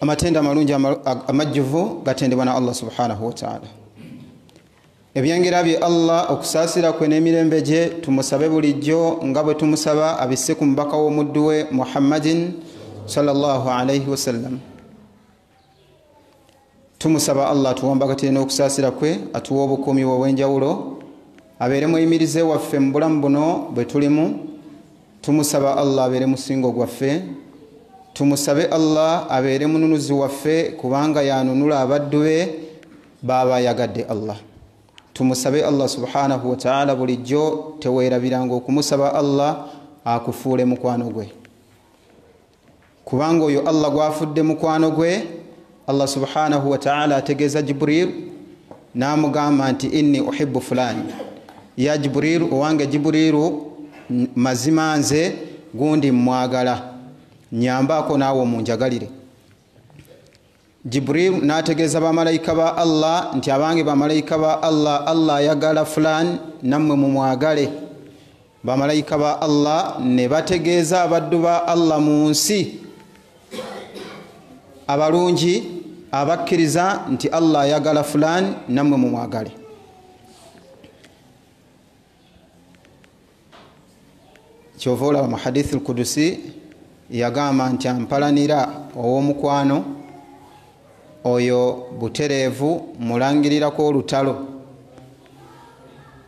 amatendo amalungi amajjuvu gatendebwa na allah subhanahu wataala ebyengera bye allah okusaasira kwe n'emirembe gye tumusabe bulijjo nga bwe tumusaba abisse ku mubaka w'omuddu we muhammadin sallallahu alaihi wasallam tumusaba allah atuwambakatire n'okusaasira kwe atuwa obukuumi bwe obw'enjawulo abeere muyimirize waffe mu bulamu buno bwe tulimu tumusaba allah abeere musingo gwaffe tumusabe allah abeere mununuzi waffe kubanga yanunula abaddu be baaba ayagadde allah tumusabe allah subhanahu wataala bulijjo teweerabiranga okumusaba allah akufuule mukwano gwe kubanga oyo allah gwafudde mukwano gwe allah subhanahu wataala ategeeza jibril namugamba nti inni uhibu fulani ya jibril owange jibrilu mazima nze gundi mwagala nyambaako naawe omunjagalire jibril n'ategeeza bamalayika ba allah nti abange bamalayika ba allah allah ayagala fulan nammwe mumwagale bamalayika ba allah ne bategeeza abaddu ba allah mu nsi abalungi abakkiriza nti allah ayagala fulan nammwe mumwagale kyova olaba mu hadithi lkudusi yagamba nti ampalanira ow'omukwano oyo butereevu mulangirirako olutalo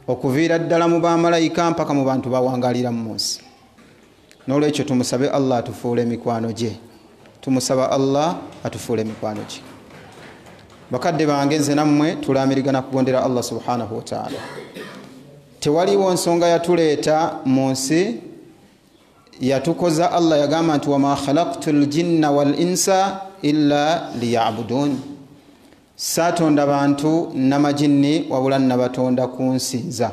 okuviira ddala mu bamalayika mpaka mu bantu bawangalira mu munsi nolwekyo tumusabe allah atufuule emikwano gye tumusaba allah atufuule emikwano gye bakadde bange nze nammwe tulamirigana kugondera allah subhanahu wataala tewaliwo nsonga yatuleeta mu nsi yatukoza allah yagamba nti wama khalaktu ljinna wal insa illa liyabuduni Saatonda bantu namajinni wabula nabatonda kunsinza.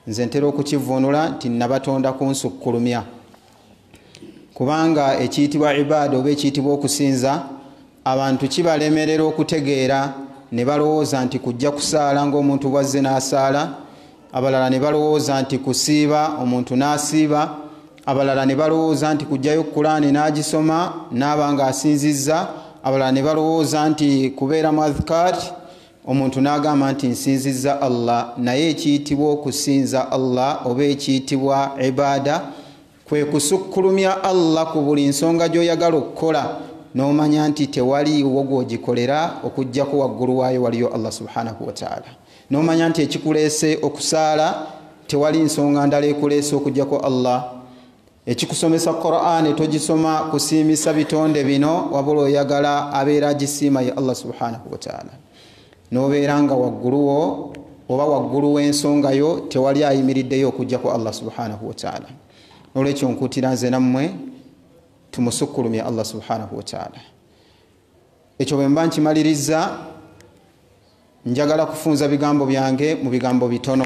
Nze ntera okukivvuunula nti nabatonda kunsukkulumya. Kubanga ekiyitibwa ibaada oba ekiyitibwa okusinza abantu kibalemerera okutegeera ne balowooza nti kujja kusaala ng'omuntu bw'azze n'asaala abalala ne balowooza nti kusiiba omuntu n'asiiba abalala ne balowooza nti kujjayo kulaani n'agisoma n'aba nga asinzizza abalala ne balowooza nti kubeera mu adhkar omuntu n'agamba nti nsinzizza allah naye ekiyitibwa okusinza allah oba ekiyitibwa ibaada Kwe kusukkulumya Allah ku buli nsonga gy'oyagala okukola n'omanya nti tewali wo gw'ogikolera okuggyako waggulu waayo waliyo Allah subhanahu wa ta'ala. N'omanya nti ekikuleese okusaala tewali nsonga ndala ekuleese okuggyako Allah. Ekikusomesa Qur'an togisoma kusiimisa bitonde bino wabula oyagala abeera agisiima ye Allah subhanahu wa ta'ala. nobeera nga wagguluwo oba waggulu w'ensonga yo tewali ayimiriddeyo okujjako allah subhanahu wataala nolwekyo nkutira nze nammwe tumusukkulumye allah subhanahu wataala ekyo bwe mba nkimalirizza njagala kufunza bigambo byange mu bigambo bitono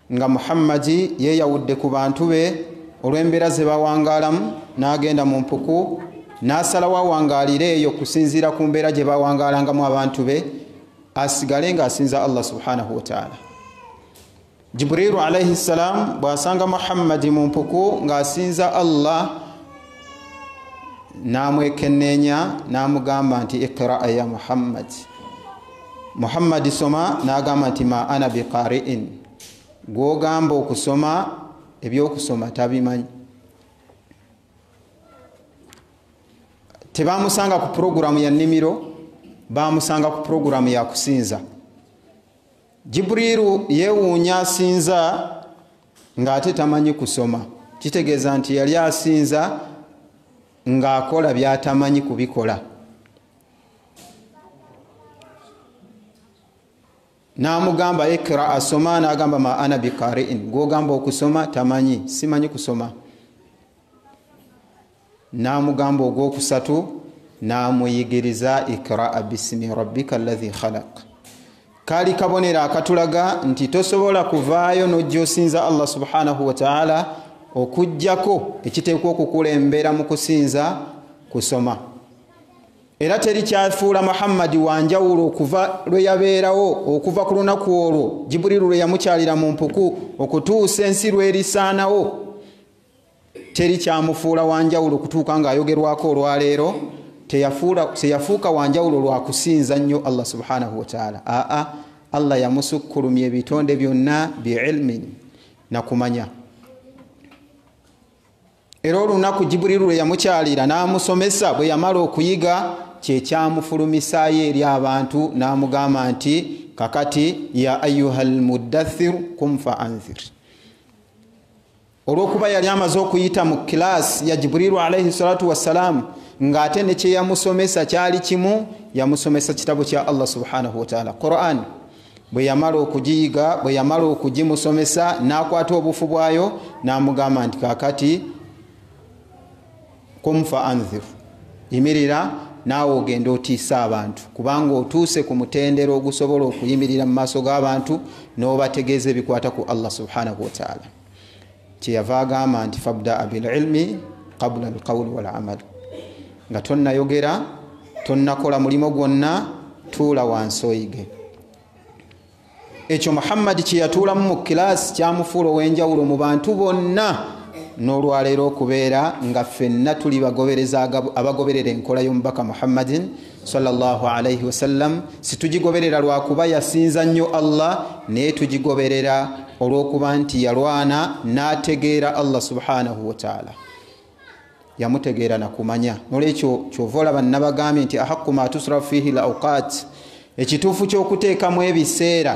nga muhammadi yeeyawudde ku bantu be olw'embeera ze bawangaalamu n'agenda mu mpuku n'asalawo awangaalire eyo okusinziira ku mbeera gye bawangaalangamu abantu be asigale ng'asinza allah subhanahu wataala jibriilu alaihi ssalaamu bw'asanga muhammadi mu mpuku ng'asinza allah n'amwekenneenya n'amugamba nti iqiraa ya muhammadi muhammadi soma n'agamba nti ma ana biqari'in gw'ogamba okusoma ebyokusoma tabimanyi tebamusanga ku puroguramu ya nnimiro bamusanga ku puroguramu ya kusinza jiburiru yeewuunya asinza ng'ate tamanyi kusoma kitegeeza nti yali asinza ng'akola byatamanyi kubikola n'amugamba ikra asoma n'agamba ma ana bikariin gwogamba okusoma tamanyi simanyi kusoma n'amugamba ogwokusatu n'amuyigiriza ikraa bisimi rabbika allahi khalaq kaali kabonero akatulaga nti tosobola kuvaayo n'ojja osinza allah subhanahu wataala okugjako ekiteekwa okukulembera mu kusinza kusoma era teri kyafuula muhammadi wanjawulo okuva lwe yabeerawo okuva ku lunaku olwo jiburilu lwe yamukyalira mu mpuku okutuusa ensi lwerisaanawo teri kyamufuula wanjawulo okutuuka ng'ayogerwako olwaleero teyafuuka wanjawulo lwakusinza nnyo allah subhanahu wataala aa allah yamusukkulumya ebitonde byonna biilmin nakumanya Era olunaku Jiburilu lwe yamukyalira n'amusomesa bwe yamala okuyiga kye kyamufulumisaayo eri abantu n'amugamba nti kakati ya ayuha lmudathiru kum fa anzir olw'okuba yali amaze okuyita mu kilaasi ya Jiburilu alaihi salatu wassalaamu ng'ate ne kye yamusomesa kyali kimu yamusomesa kitabo kya Allah subhanahu wataala Qur'an bwe yamala okugiyiga bwe yamala okugimusomesa n'akwata obufu bwayo n'amugamba nti kakati kumfa anzir yimirira naawe ogenda otiisa abantu kubanga otuuse ku mutendera ogusobola okuyimirira mu maaso g'abantu n'obategeeza ebikwata ku allah subhanahu wataala kyeyava agamba nti fabdaa bililmi qabula alqawuli walamal nga tonnayogera tonnakola mulimu gwonna tuula wansi oyige ekyo muhammadi kyeyatuulamu mu kilaasi kyamufuula ow'enjawulo mu bantu bonna n'olwaleero okubeera nga ffenna tuli abagoberera enkola y'omubaka muhammadin sallallahu alaihi wasallam situgigoberera lwakuba yasinza nnyo allah naye tugigoberera olwokuba nti yalwana nategeera allah subhanahu wataala yamutegeera nakumanya nolwekyo kyova olaba nabagambye nti ahaqu ma tusrafu fihi lauqat ekituufu kyokuteekamu ebiseera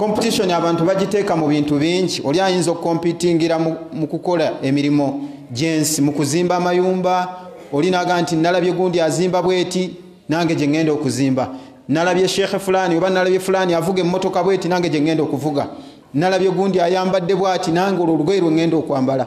competition abantu bagiteeka mu bintu bingi oli ayinza okukompitingira mu kukola emirimu gyensi mu kuzimba amayumba oli naga nti nalabye gundi azimba bweti nange gye ŋŋenda okuzimba nalabye sheekhe fulani oba nalabye fulani avuga emmotoka bweti nange gye ŋŋenda okuvuga nalabye gundi ayambadde bwati nange olwo olugoye lwe ŋŋenda okwambala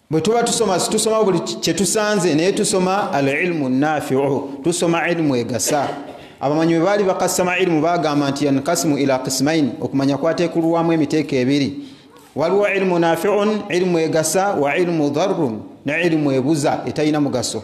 bwe tuba tusoma situsoma buli kyetusanze naye tusoma al ilmu nafiu tusoma ilimu egasa abamanyi bwe baali bakasama ilimu bagamba nti yankasimu ila kismaini okumanya kwatekulwamu emiteeko ebiri waliwo ilimu nafiun ilimu egasa wa ilimu dharun ne ilimu ebuza etalina mugaso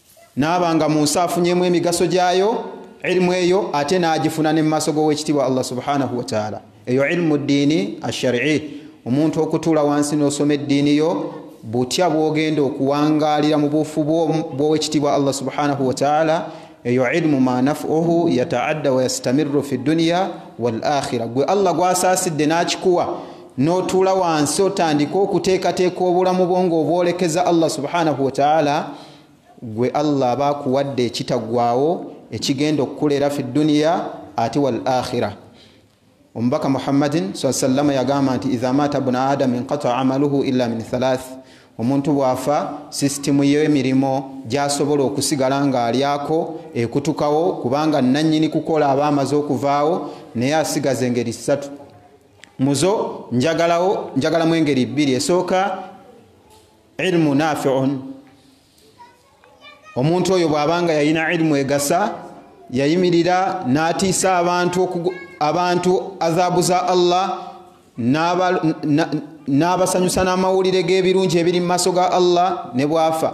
naaba nga mu nsi afunyemu emigaso gyayo ilimu eyo ate n'agifuna ne mu maaso g'owekitiibwa allah subhanahu wataala eyo ilimu ddiini asharii omuntu okutuula wansi n'osoma eddiini yo butya bwogenda okuwangaalira mu buufu bw'owekitiibwa allah subhanahu wataala eyo ilimu ma nafuhu yataadda wayastamiru fi dduniya wal akhira gwe allah gwasaasidde n'akikuwa n'otuula wansi otandika okuteekateeka obulamu bwo ng'obwolekeza allah subhanahu wataala gwe allah aba akuwadde ekitagwawo ekigenda okukuleera fi duniya ate wal akhira omubaka muhammadin saa sallama yagamba nti idha mata buna adam inqata amaluhu illa min thalath omuntu bwafa sisitimu y'emirimu gyasobola okusigala ng'alyako ekutukawo kubanga nannyini kukola aba amaze okuvaawo naye asigaza engeri ssatu muzo njagalawo njagalamu engeri bbiri esooka ilmu nafiun omuntu oyo bwabanga yalina ilmu egasa yayimirira n'atiisa abantu abantu azabu za allah n'abasanyusa n'amawulire g'ebirungi ebiri mu maaso ga allah ne bwafa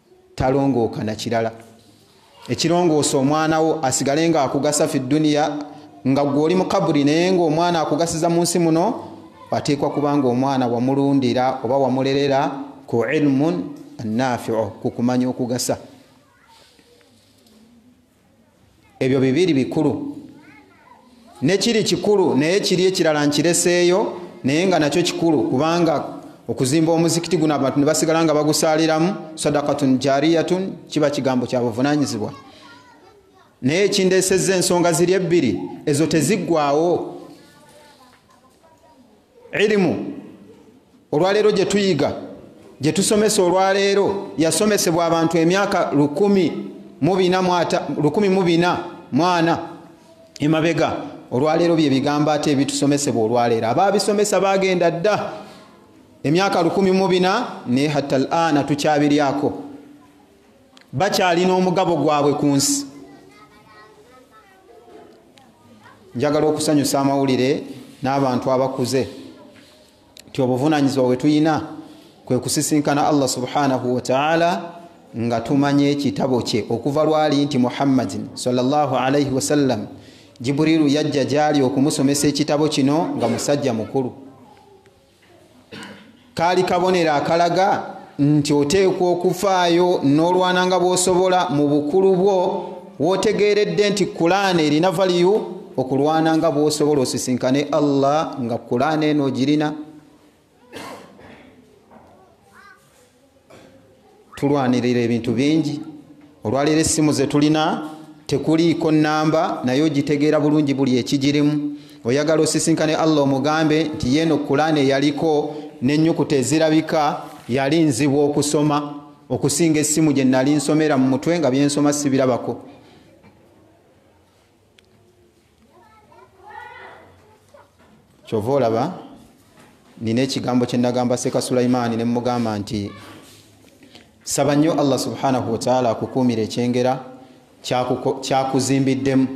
talongooka na kirala ekirongoosa omwana wo asigale nga akugasa fi duniya nga gwe oli mukaburi naye nga omwana akugasiza mu nsi muno ateekwa kubanga omwana wamulundira oba wamulerera ku ilmun nafiu ku kumanya okugasa ebyo bibiri bikulu nekiri kikulu naye kiri ekirala nkireseeyo naye nga nakyo kikulu kubanga okuzimba omuzikiti guno abantu ne basigala nga bagusaaliramu sadakatun jariyatun kiba kigambo kya buvunanyizibwa naye ekindeesezza ensonga ziri ebbiri ezo teziggwawo irimu olwaleero gye tuyiga gye tusomesa olwaleero yasomesebwa abantu emyaka lukumi mu bina mwana emabega olwaleero bye bigambo ate ebitusomesebwa olwaleero abaabisomesa baagenda dda emyaka lukumi mu bina naye hatta al ana tukyabiryako bakyalina omugabo gwabwe ku nsi njagala okusanyusa amawulire n'abantu abakuze nti obuvunanyizibwa bwe tulina kwe kusisinkana allah subhanahu wataala nga tumanye ekitabo kye okuva lwali nti muhammadin salllahalaihi wasallam jiburilu yajja gyali okumusomesa ekitabo kino nga musajja mukulu kaali kabonero akalaga nti oteekwa okufaayo n'olwana nga bw'osobola mu bukulu bwo w'otegeeredde nti kulaana erina valiyu okulwana nga bw'osobola osisinkane allah nga kulaana eno ogirina tulwanirira ebintu bingi olwaleero essimu zetulina tekuliiko namba naye ogitegeera bulungi buli ekigirimu oyagala osisinkane allah omugambe nti yeeno kulaana eyaliko nenyukuta ezirabika yali nzibu okusoma okusinga essimu gye nali nsomera mu mutwe nga byensoma sibirabako kyova olaba nina ekigambo kyenagamba seka sulaimaani nemugamba nti saba nnyo allah subhanahu wataala akukuumira ekyengera kyakuzimbiddemu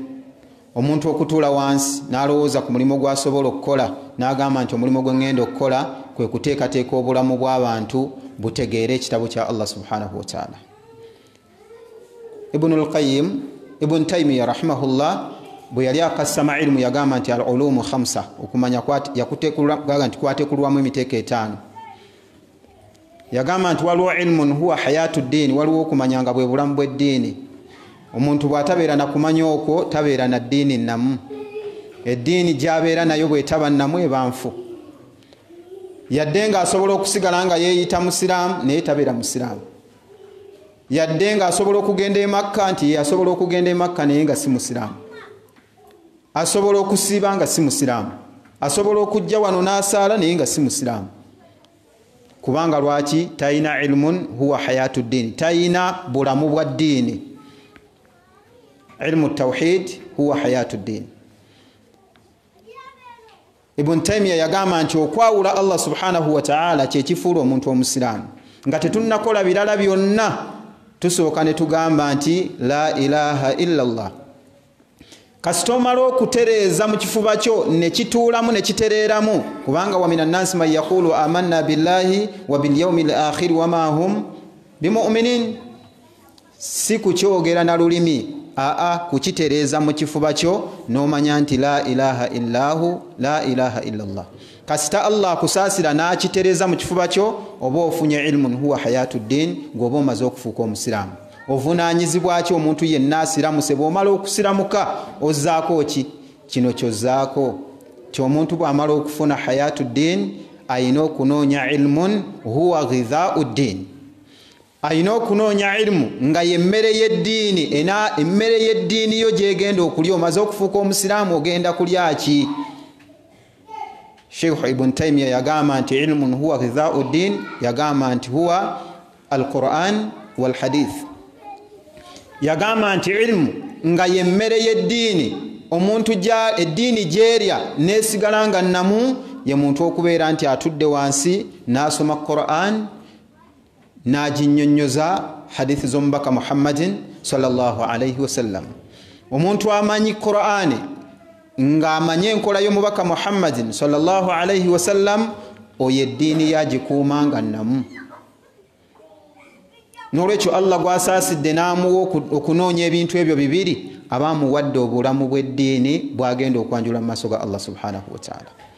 omuntu okutuula wansi n'alowooza ku mulimu gwasobola okukola n'agamba nti omulimu gwe ŋŋenda okukola kwe kuteekateeka obulamu bw'abantu butegeere ekitabo kya allah subhanahu wataala ibunu lqayim ibun taimiya rahimahullah bwe yali akasama ilimu yagamba nti al ulumu hamsa okumanya yakutekulwaga nti kwatekulwamu emiteeko etaano yagamba nti waliwo ilmun huwa hayatu ddiini waliwo okumanya nga bwe bulamu bw'eddiini omuntu bw'atabeera na kumanya okwo tabeera na ddiini namu eddiini gyabeera nayo bwetaba namu eba nfu yadde ng'asobola okusigala nga yeeyita musiraamu naye tabeera musiraamu yadde nga asobola okugenda emakka nti asobola okugenda emakka naye nga si musiraamu asobola okusiiba nga si musiraamu asobola okujja wano n'asaala naye nga si musiraamu kubanga lwaki talina ilmun huwa hayatu ddiini talina bulamu bwa ddiini ilmu tawhid huwa hayatu ddiini ibuni taimiya yagamba nti okwawula allah subhanahu wataala kyekifuula omuntu omusiraamu nga tetunnakola birala byonna tusooka ne tugamba nti la ilaha illa llah kasita omala okutereeza mu kifuba kyo ne kituulamu ne kitereeramu kubanga wamina nnansi man yaqulu amanna billahi wa bilyaumi lakhiri wama hum bimuminin si kukyogera na lulimi aa kukitereeza mu kifuba kyo n'omanya nti la ilaha illahu la ilaha illallah kasita allah akusaasira n'akitereeza mu kifuba kyo oba ofunye ilmun huwa hayatu ddin gweoba omaze okufuuka omusiraamu ovunaanyizibwaki omuntu yenna asiramuse bw'omala okusiramuka ozzaako ki kino kyozzaako ti omuntu bw'amala okufuna hayatu ddin alina okunoonya ilmun huwa ghidhaau ddin alina okunoonya irimu nga yemmere yeddiini emmere yeddiini yo gyegenda okulya omaze okufuuka omusiraamu ogenda kulyaki sheikh ibun taimiya yagamba nti ilmun huwa ghidhau ddin yagamba nti huwa alquran walhadith yagamba nti irimu nga yemmere yeddiini omuntu eddiini gyerya nesigala nga namu ye muntu okubeera nti atudde wansi n'asoma quran n'aginnyonnyoza hadithi z'omubaka muhammadin salllahu alaihi wasallam omuntu amanyi qur'ani ng'amanyi enkola y'omubaka muhammadin salllahu alaihi wasallam oyo eddiini yagikuuma nga namu n'olwekyo allah gwasaasidde n'amuwa okunoonya ebintu ebyo bibiri aba amuwadde obulamu bw'eddiini bw'agenda okwanjula mu maaso ga allah subhanahu wataala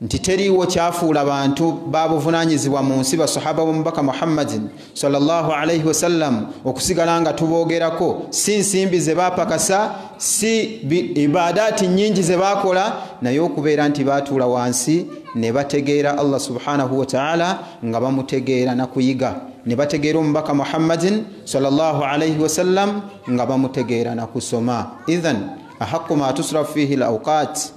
nti teriiwo kyafuula bantu babuvunaanyizibwa mu nsi basahaba b'omubaka muhammadin salllah alaihi wasallam okusigala nga tuboogerako si nsimbi ze baapakasa si ibaadaati nnyingi ze baakola naye okubeera nti baatuula wansi ne bategeera allah subhanahu wataala nga bamutegeera na kuyiga ne bategeera omubaka muhammadin salllah alaihi wasallam nga bamutegeera na kusoma ithan ahaqu ma tusrafu fihi l auqaati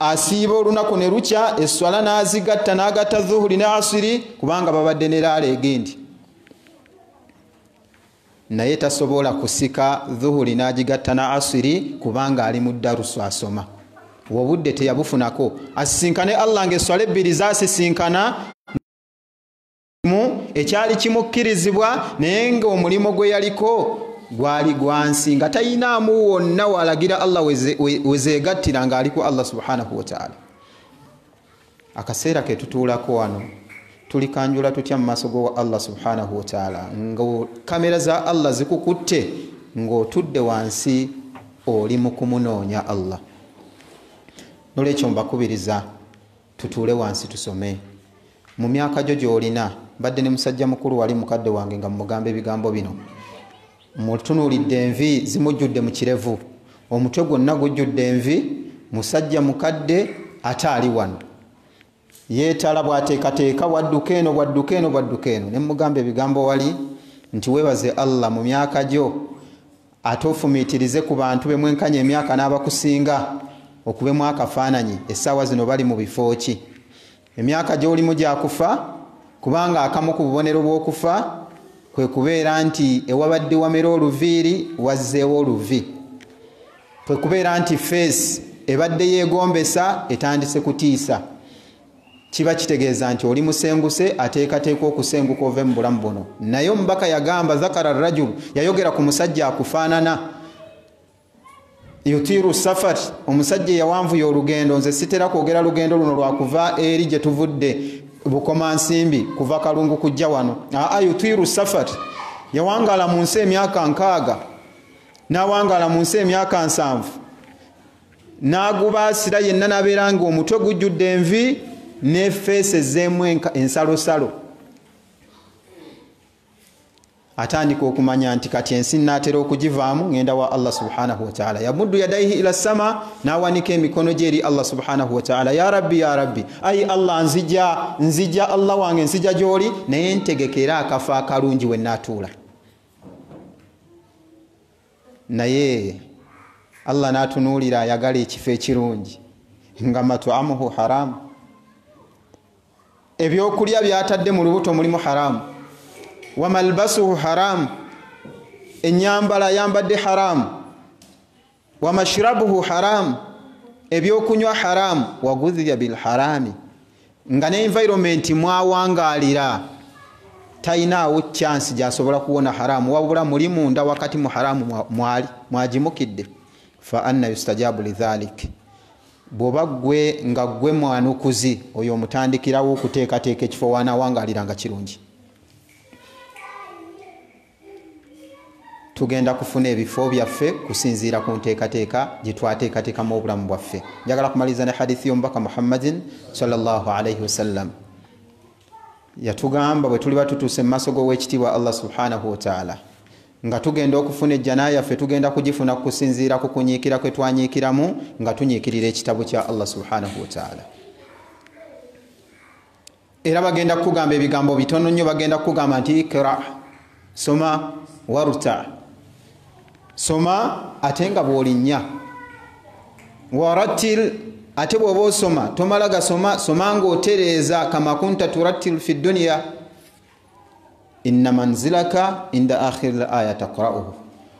asiiba olunaku ne lukya esswala n'azigatta n'agatta zuhuri ne asiri kubanga babadde ne laala egendi naye tasobola kusika zuhuri n'agigatta na asiri kubanga ali mu darusu asoma obudde teyabufunako asisinkane allah nga esswala ebbiri zasisinkana mu ekyali kimukkirizibwa naye nga omulimu gwe yaliko gwali gwansi nga tayinaamu wonna walagira allah wezeegattira nga aliku allah subhanahu wataala akaseera ketutuulako wano tulikanjula tutya mu maaso gowa allah subhanahu wataala nga kamera za allah zikukutte ng'otudde wansi oli mu kumunoonya allah nolwekyo mbakubiriza Tutuule wansi tusome. Mu myaka gyo gy'olina, mbadde ne musajja mukulu wali, mukadde wange, nga mmugamba ebigambo bino. Mmutunuulidde, envi zimujjudde mu kirevu, omutwe gwonna gujjudde envi, musajja mukadde, ate ali wano. Yeetala bw'ateekateeka, bw'adduka eno, bw'adduka eno, bw'adduka eno. Ne mmugamba ebigambo wali nti, Weebaze Allah mu myaka gyo. ate ofumiitirize ku bantu be mwenkanya emyaka n'abakusinga okubemu akafaananyi essaawa zino bali mu bifo ki emyaka gy'olimu gya kufa kubanga akamu ku bubonero bw'okufa kwe kubeera nti ewabadde wamera oluviiri wazzeewo oluvi kwe kubeera nti feesi ebadde yeegombesa etandise kutiisa kiba kitegeeza nti oli musenguse ateekateeka okusenguka ove mu bulamu buno naye omubaka yagamba zakara rajulu yayogera ku musajja akufaanana yutiiru safari omusajja eyawanvuya olugendo nze sitera kwogera lugendo luno lwakuva eri gye tuvudde bukoma nsimbi kuva kalungu kujja wano aa yutiiru safari yawangaala mu nsi emyaka nkaaga n'awangaala mu nsi emyaka nsanvu n'agubaasira yenna n'abeera nga omutwe gujjudde envi ne feesi ezzeemu ensalosalo atandika okumanya nti kati ensi naatera okugivaamu ngenda wa allah subhanahu wataala yamuddu yadaihi ila sama n'awanika emikono gye eri allah subhanahu wataala ya rabbi ya rabbi ayi allah nzija nzija allah wange nzija gy'oli naye ntegekera akafa akalungi we naatuula naye allah natunuulira ayagala ekifo ekirungi nga matuamuhu haramu ebyokulya byatadde mu lubuto mulimu haramu wamalbasuhu haramu enyambala ayambadde haramu wamashrabuhu haramu ebyokunywa haramu wagudhiya bilharami nga ne environment mwawangaalira talinaawo chance gyasobola kuwona haramu wabula muli munda wakati mu haramu mwali mwagimukidde fa anna yustajabu lidhalik bwoba gwe nga gwe mwanukuzi oyo omutandikirawo okuteekateeka ekifo waanawangaalira nga kirungi tugenda kufuna ebifo byaffe kusinziira ku nteekateeka gye twateekateekamu obulamu bwaffe njagala kumaliriza ne hadithi y'omubaka muhammadin salllah alaihi wasallam yatugamba bwe tuliba tutuuse mu maaso g'owekitiibwa allah subhanahu wataala nga tugenda okufuna ejjana yaffe tugenda kugifuna kusinziira ku kunyiikira kwe twanyiikiramu nga tunyiikirira ekitabo kya allah subhanahu wataala era bagenda kukugamba ebigambo bitono nnyo bagenda kukugamba nti ikra soma waruta soma ate nga bwolinnya warattil ate bwoba osoma tomala gasoma soma ngaotereeza kamakunta turattil fi dduniya inna manzilaka inda akhiri l aya takrauhu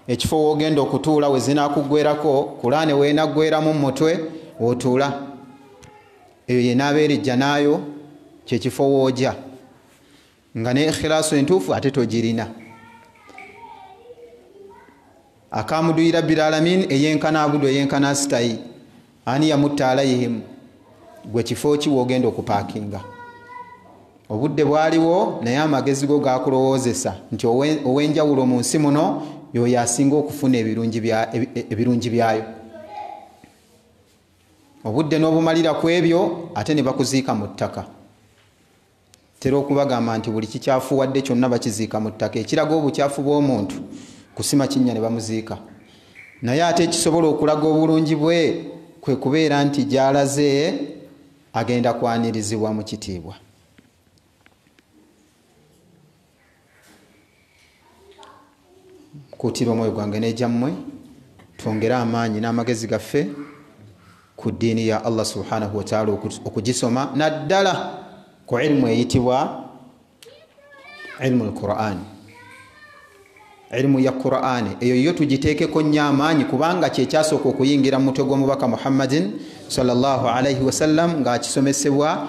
ekifo wogenda okutuula wezinakuggwerako kulaane wenaggweramu mumutwe otuula eyo yenabeera ejjanaayo kyekifo wooja nga ne ikhilaasu entuufu ate togirina akamuduyira bilalamin eyenkana abudu eyenkana sitayi ani yamutta alaihim gwe kifo ki wogenda okupakinga obudde bwaliwo naye amagezi go gakulowoozesa nti owenjawulo mu nsi muno yoyo asinga okufuna ebirungi e, e, byayo obudde n'obumalira ku ebyo ate ne bakuziika mu ttaka tera okubagamba nti buli kikyafuwadde kyonna bakiziika mu ttaka ekiraga obukyafu bw'omuntu kusima kinnya ne bamuziika naye ate ekisobola okulaga obulungi bwe kwe kubeera nti gy'alaze agenda kwanirizibwa mu kitiibwa kuutirwa omwoyo gwange n'egyammwe twongere amaanyi n'amagezi gaffe ku ddiini ya allah subhanahu wataala okugisoma naddala ku ilimu eyitibwa ilimu lqurani ilimu ya qurani eyo yo tugiteekeko nnyo amaanyi kubanga kyekyasooka okuyingira mu mutwe gw'omubaka muhammadin salllah alaihi wasallam ng'akisomesebwa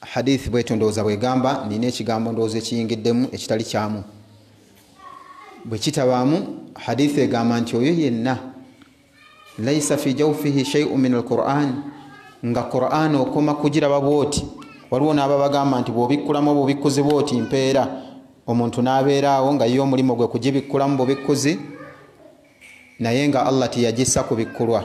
Hadiith bwetyo ndowooza bwegamba. Nina ekigambo ndowooza ekiyingiddemu ekitali kyamu. Bwekitabaamu, hadiith egamba nti oyo yenna laisa fi jawfihi shaiu min alquran nga quran okoma kugiraba bwoti waliwo naaba bagamba nti bwobikkulamu obubikkuzi bwoti mpeera omuntu nabeeraawo nga ye omulimu gwe kugibikkulamu bubikkuzi naye nga allah teyagissa kubikkulwa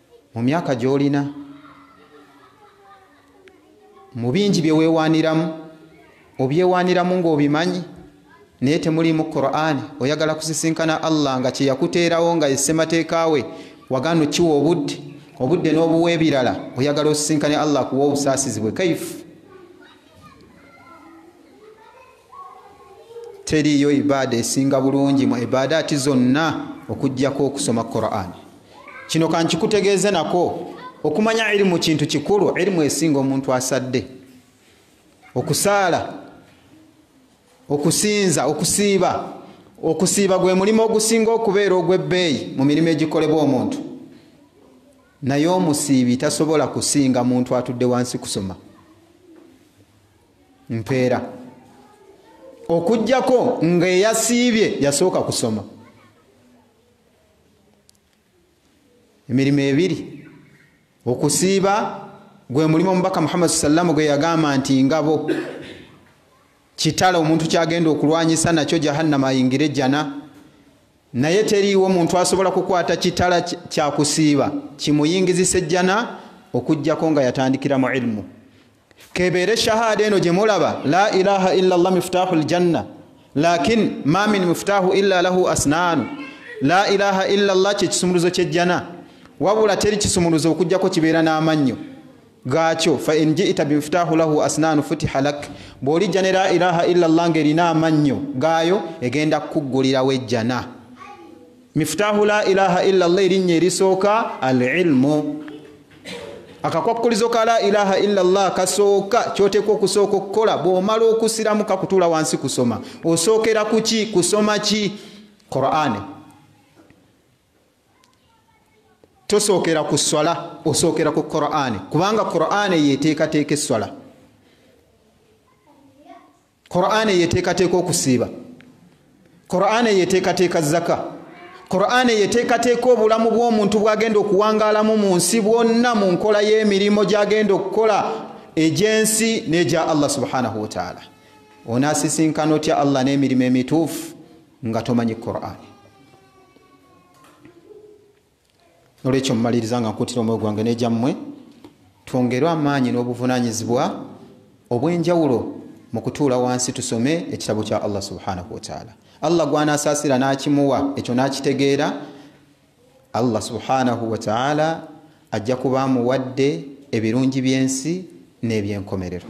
Mu myaka gy'olina, mu bingi bye weewaaniramu, obyewaaniramu ng'obimanyi naye temuliimu Kuraani, oyagala kusisinkana Allah nga kye yakuteerawo nga ye ssemateeka we wagaana okiwa obudde, obudde n'obuwa ebirala, oyagala osisinkane Allah akuwe obusaasizi bwe. Kaifu! teriiyo ibaada esinga bulungi mu ibaadaati zonna okugyako okusoma quran kino kankikutegeeze nako okumanya irimu kintu kikulu irimu esinga omuntu asadde okusaala okusinza okusiiba okusiiba gwe mulimu ogusinga okubeera ogw'ebbeeyi mu mirimu egikolebwa omuntu naye omusiibi tasobola kusinga muntu atudde wansi kusoma mpeera okujjako nga eyasiibye yasooka kusoma emirimu ebiri okusiiba gwe mulimu omubaka muhammad sallamu gwe yagamba nti ngabo kitala omuntu kyagenda okulwanyisa nakyo jahannama ayingire jjana naye teriiwo muntu asobola kukwata kitala kyakusiiba kimuyingizisa ejjana okugjako nga yatandikira mu ilimu kebeere shahada eno gyemulaba la ilaha illa llah miftahu ljanna lakin ma min miftahu illa lahu asnaanu la ilaha illa llah kyekisumuluzo kyejjana wabula teri kisumuluzo okujjako kibeera n'amannyo gaakyo fain jita bimiftahu lahu asnaanu futiha lak bw'olijja ne la ilaha illa llah ng'erina amannyo gaayo egenda kukuggulirawo ejjana mifutahu la ilaha illa llah erinnya erisooka al ilmu akakwakkulizo ka la ilaha illa llah kasooka kyoteekwa okusooka okukola bwomala okusiramu kakutuula wansi kusoma osookera kuki kusoma ki qurani tosookera ku swala osookera ku qurani kubanga qurani yeteekateeka esswala qur'an eyo eteekateeka okusiiba qur'an eyo eteekateeka zaka qur'an eyo eteekateeka obulamu bw'omuntu bwagenda okuwangaalamu mu nsi bwonna mu nkola y'emirimu gyagenda okukola egy'ensi n'egya allah subhanahu wataala onaasisinkana otya allah n'emirimu emituufu nga tomanyi qur'ani nolwekyo mumaliriza nga nkuutira omwoyo gwange negyammwe twongerwe amaanyi n'obuvunanyizibwa obw'enjawulo mu kutuula wansi tusome ekitabo kya allah subhanahu wataala allah gwanaasaasira n'akimuwa ekyo n'akitegeera allah subhanahu wataala ajja kuba amuwadde ebirungi by'ensi n'ebyenkomerero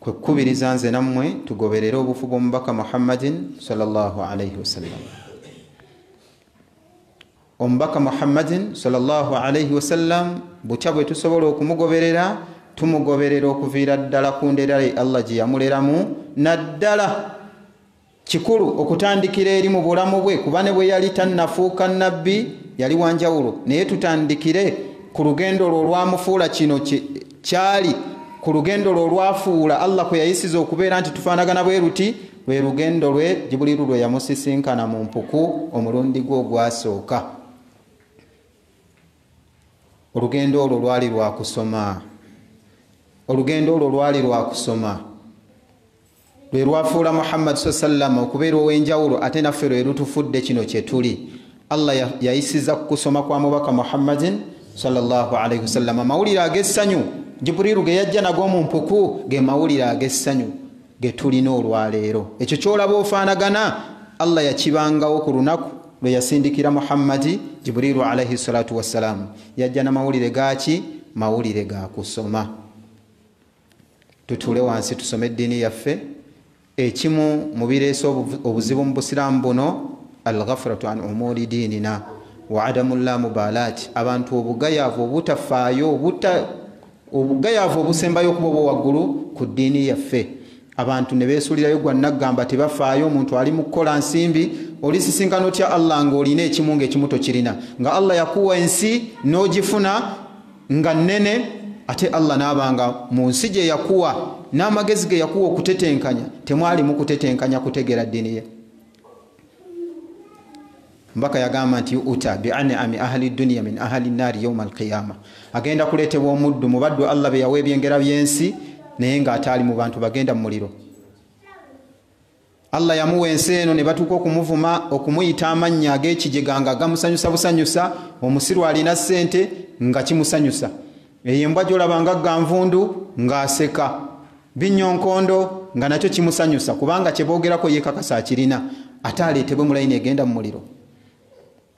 kwe kukubiriza nze nammwe tugoberere obufu bw'omubaka muhammadin salllah alaihi wasallam omubaka muhammadin salllah alaihi wasallam butya bwe tusobola okumugoberera tumugoberera okuviira ddala ku nderae allah gye yamuleramu naddala kikulu okutandikira eri mu bulamu bwe kuba ne bwe yali tannafuuka nabbi yali wanjawulo naye tutandikire ku lugendo lwo olwamufuula kino kyali ku lugendo lwo olwafuula allah kwe yayisiza okubeera nti tufaanagana bwe luti lwe lugendo lwe jibuliru lwe yamusisinkana mu mpuku omulundi gwe ogwasooka olugendo olwo lwali lwakusoma olugendo olwo lwali lwakusoma lwe lwafuula muhammad sa sallama okubeera ow'enjawulo ate naffe lwe lutufudde kino kye tuli allah yayisiza ku kusoma kwa mubaka muhammadin salllahu alaihi wasallama amawulire ag'essanyu jiburiru ge yajja nago mu mpuku ge mawulire ag'essanyu ge tulina olwaleero ekyo kyolaba ofaanagana allah yakibangawo ku lunaku lwe yasindikira muhammadi jiburiru alaihi salatu wassalaamu yajja na mawulire gaaki mawulire ga kusoma tutuule wansi tusome eddiini yaffe ekimu mu bireese obuzibu mu busiraamu buno alghafiratu an umuuri diinina wa adamu llamubaalaati abantu obugayaavu obutafaayo obugayaavu obusembayo okuba obwo waggulu ku ddiini yaffe abantu ne beesulirayo gwa naggamba tebafaayo omuntu ali mu kukola nsimbi olisisinkana otya allah ng'olina ekimu ng'ekimu tokirina nga allah yakuwa ensi n'ogifuna nga nnene ate allah naaba nga mu nsi gye yakuwa n'amagezi ge yakuwa okutetenkanya temwalimu kutetenkanya kutegera ddini ye mbaka yagamba nti uta bianami ahali duniya min ahali naari yauma alqiyama agenda kuleetebwa omuddu mu baddu allah be yawa ebyengera by'ensi naye ng'ataali mu bantu bagenda mu muliro allah yamuwa ensi eno ne batuuka okumuvuma okumuyita amannya ag'ekijega nga gamusanyusa busanyusa omusiru alina ssente nga kimusanyusa eyo embwa gyolaba nga ganvundu ng'aseka binyonkondo nga nakyo kimusanyusa kubanga kyeboogerako yekakasa akirina ate aleetebwe mulayini egenda mu muliro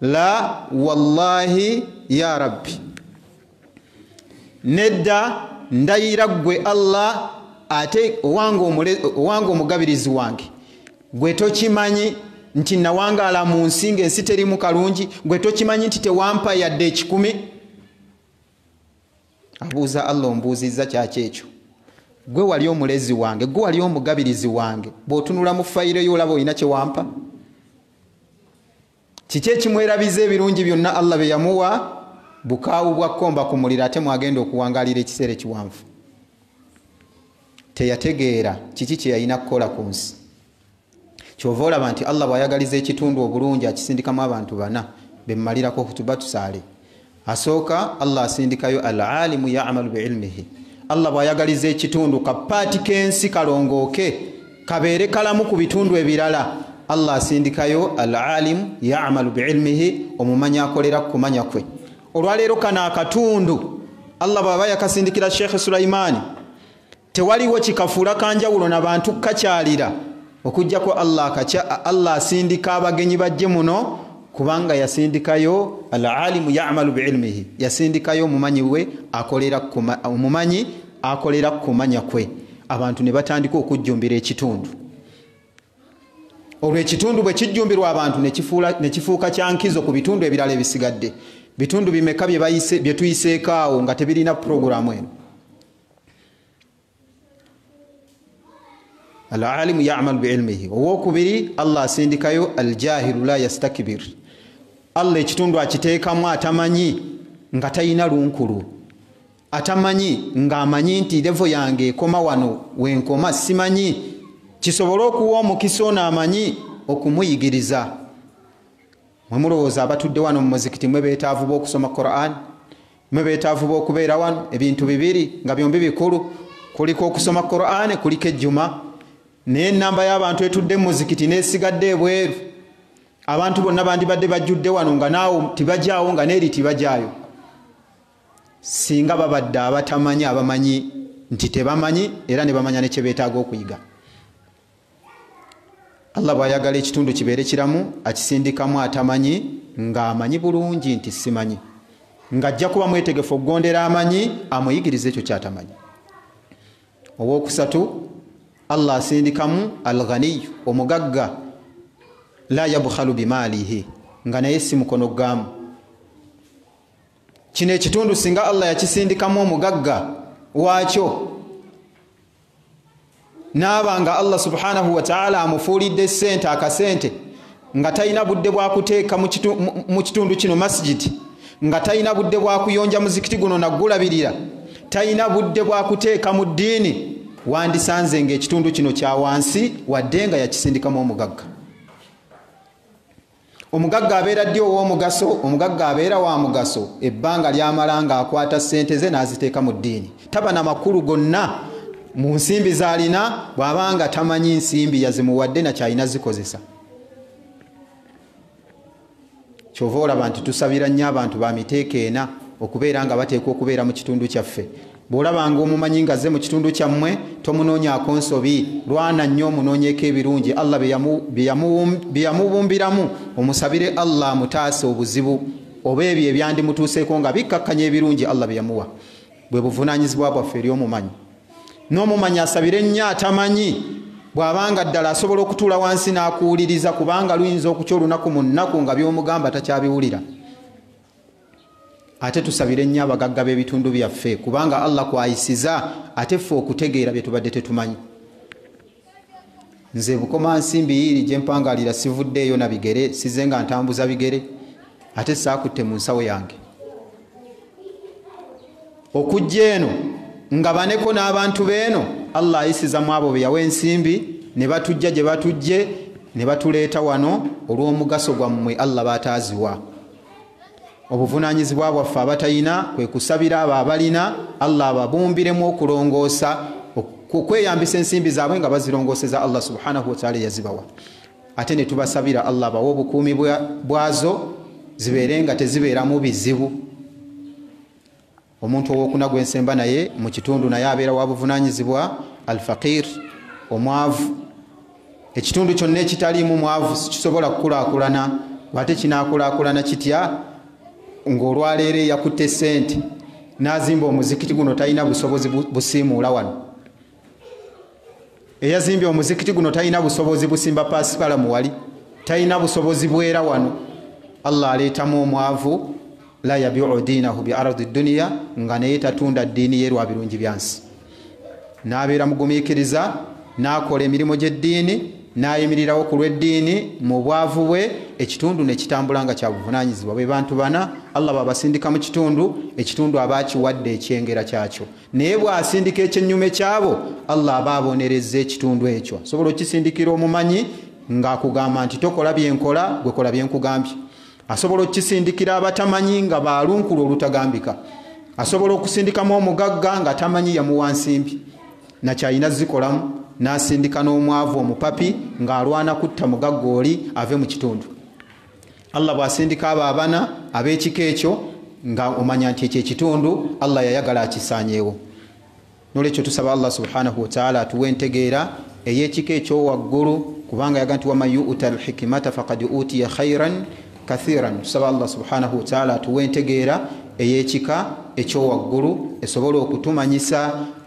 la wallahi ya rabbi nedda ndayira ggwe allah ate owange omugabirizi wange gwe tokimanyi nti nawangaala mu nsi ngaensi terimu kalungi gwe tokimanyi nti tewampa yadde ekikumi Abuuza Allah, Ombuuzizza kyaki ekyo? Ggwe wali Omulezi wange, Ggwe wali Omugabirizi wange, bw'otunula mu fayiro yo olaba olina kye wampa? Kiki ekimwerabiza ebirungi byonna Allah bye yamuwa? Bukaawu bwa kkomba ku muliro ate mw'agenda okuwangaalira ekiseera ekiwanvu. Teyategeera kiki kye yalina kukola ku nsi. kyova olaba nti allah bwayagaliza ekitundu obulungi akisindikamu abantu bana bemumalirako okutuba tusaale asooka allah asindikayo al alimu yamalu biilmihi allah bwayagaliza ekitundu kapaati kensi kalongooke kabeere kalamu ku bitundu ebirala allah asindikayo al alimu yamalu biilmihi omumanyi akolera kukumanya kwe olwaleero kano akatundu allah bwaba yakasindikira sheekhe sulaimaani tewaliwo kikafuula kanjawulo na bantu kukakyalira okujjako allah akakya allah asindika abagenyi bajje muno kubanga yasindikayo alalimu yamalu biilmihi yasindikayo omumanyi we omumanyi akolera kukumanya kwe abantu ne batandika okujjumbira ekitundu olwo ekitundu bwe kijjumbirwa abantu ne kifuuka kyankizo ku bitundu ebirala ebisigadde bitundu bimeka bye tuyiseekaawo nga tebirina puroguramu eno alalimu yamalu biilmihi owokubiri allah asindikayo aljahilu la yastakbir allah ekitundu akiteekamu atamanyi nga talina lunkulu atamanyi ngaamanyi nti levo yange ekoma wano wenkoma simanyi kisobole okuwa omukisa ono amanyi okumuyigiriza mwe mulowooza abatudde wano mu muzikiti mwe beetaavu b'okusoma quran mwe beetaavu b'okubeera wano ebintu bibiri nga byombi bikulu kuliko okusoma quran kuliko ejjuma naye enamba y'abantu etudde mu muzikiti n'esigadde ebweru abantu bonna bandibadde bajjudde wano nga naawo tibajaawo nga neeri tibajaayo singa babadde abatamanyi abamanyi nti tebamanyi era ne bamanya ne kye beetaaga okuyiga allah bwayagala ekitundu kibeere kiramu akisindikamu atamanyi ng'amanyi bulungi nti simanyi ng'ajja kuba mwetegefu okugondera amanyi amuyigiriza ekyo kyatamanyi owokusatu allah asindikamu alghaniyu omugagga la yabukhalu bimaalihi nga naye si mukono gamu kino ekitundu singa allah yakisindikamu omugagga waakyo naaba nga allah subhanahu wataala amufuulidde sente akasente nga talina budde bwakuteeka mu kitundu kino masijidi nga talina budde bwakuyonja muzikiti guno nagulabirira talina budde bwakuteeka mu ddiini wandisanze nga ekitundu kino kya wansi wadde nga yakisindikamu omugagga omugagga abeera ddi ow'omugaso omugagga abeera wa mugaso ebbanga lyamala nga akwata ssente ze n'aziteeka mu ddiini taba na makulu gonna mu nsimbi z'alina bw'aba nga tamanyi nsimbi yazimuwadde nakyalina zikozesa kyova olaba nti tusabira nnyo abantu ba miteeko ena okubeera nga bateekwa okubeera mu kitundu kyaffe Bw'olabanga omumanyi ng'azze mu kitundu kyammwe tomunoonyaako nsobi, lwana nnyo omunoonyeeko ebirungi Allah bye yamubumbiramu, omusabire Allah amutaase obuzibu oba ebyo ebyandimutuuseeko nga bikkakkanya ebirungi Allah bye yamuwa. Bwe buvunaanyizibwa bwaffe eri omumanyi. N'omumanyi asabire nnyo atamanyi bw'abanga ddala asobola okutuula wansi n'akuwuliriza kubanga luyinza okukya olunaku mu nnaku nga by'omugamba takyabiwulira. ate tusabire nnyo abagagga b'ebitundu byaffe kubanga allah kwayisiza ate ffe okutegeera bye tubadde tetumanyi nze bukoma nsimbi yiiri gye mpangalira sivuddeeyo na bigere size nga ntambuza bigere ate saakutte mu nsawo yange okujja eno nga baneko n'abantu beeno allah ayisiza mu abo be yawa ensimbi ne batujja gye batujje ne batuleeta wano olw'omugaso gwammwe allah bataaziwa obuvunanyizibwa bwaffe abatalina kwekusabira abo abalina allah ababumbiremu okulongoosa okweyambisa ensimbi zaabwe nga bazirongoseza allah subhanahu wataala eyazibawa ate netubasabira allah bawe obukuumi bwazo zibeere nga tezibeeramu bizibu omuntu owokuna gwensemba naye mu kitundu naye abeera wa buvunanyizibwa alfaqir omwavu ekitundu kyonna ekitaliimu mwavu sikisobola kukulakulana ate kinakulakulana kitya ngaolwaleero eyakutte sente nazimba omuzikiti guno talina busobozi busiimuula wano eyazimbye omuzikiti guno talina busobozi busimba pasipala muwali talina busobozi bwera wano allah aleetamu omwavu la yabiu diinahu bi ardi duniya nga naye tatunda ddiini ye lwa birungi byansi n'abeera mugumiikiriza n'akola emirimu gy'eddiini n'ayimirirawo ku lw'eddiini mu bwavu bwe ekitundu ne kitambula nga kya buvunaanyizibwa bwe bantu bana allah babasindika mu kitundu ekitundu aba akiwadde ekyengera kyakyo naye bw'asindika ekyennyume kyabo allah aba abonerezza ekitundu ekyo asobola okukisindikira omumanyi ng'akugamba nti tokola byenkola gwekola byenkugambye asobola okukisindikira abatamanyi nga baalunkulu olutagambika asobola okusindikamu omugagga nga tamanyi yamuwa nsimbi nakyalina zikolamu n'asindika n'omwavu omupapi ng'alwana kutta mugagga oli ave mu kitundu allah bwasindika abo abana ab'ekika ekyo nga omanya nti ekyo ekitundu allah yayagala akisanyeewo nolwekyo tusaba allah subhanahu wataala atuwa entegeera ey'ekika ekyowaggulu kubanga yaga nti waman yuuta alhikimata fakad utiya khairan kathiran tusaba allah subhanahu wataala atuwa entegeera ey'ekika ekyowaggulu esobole okutumanyisa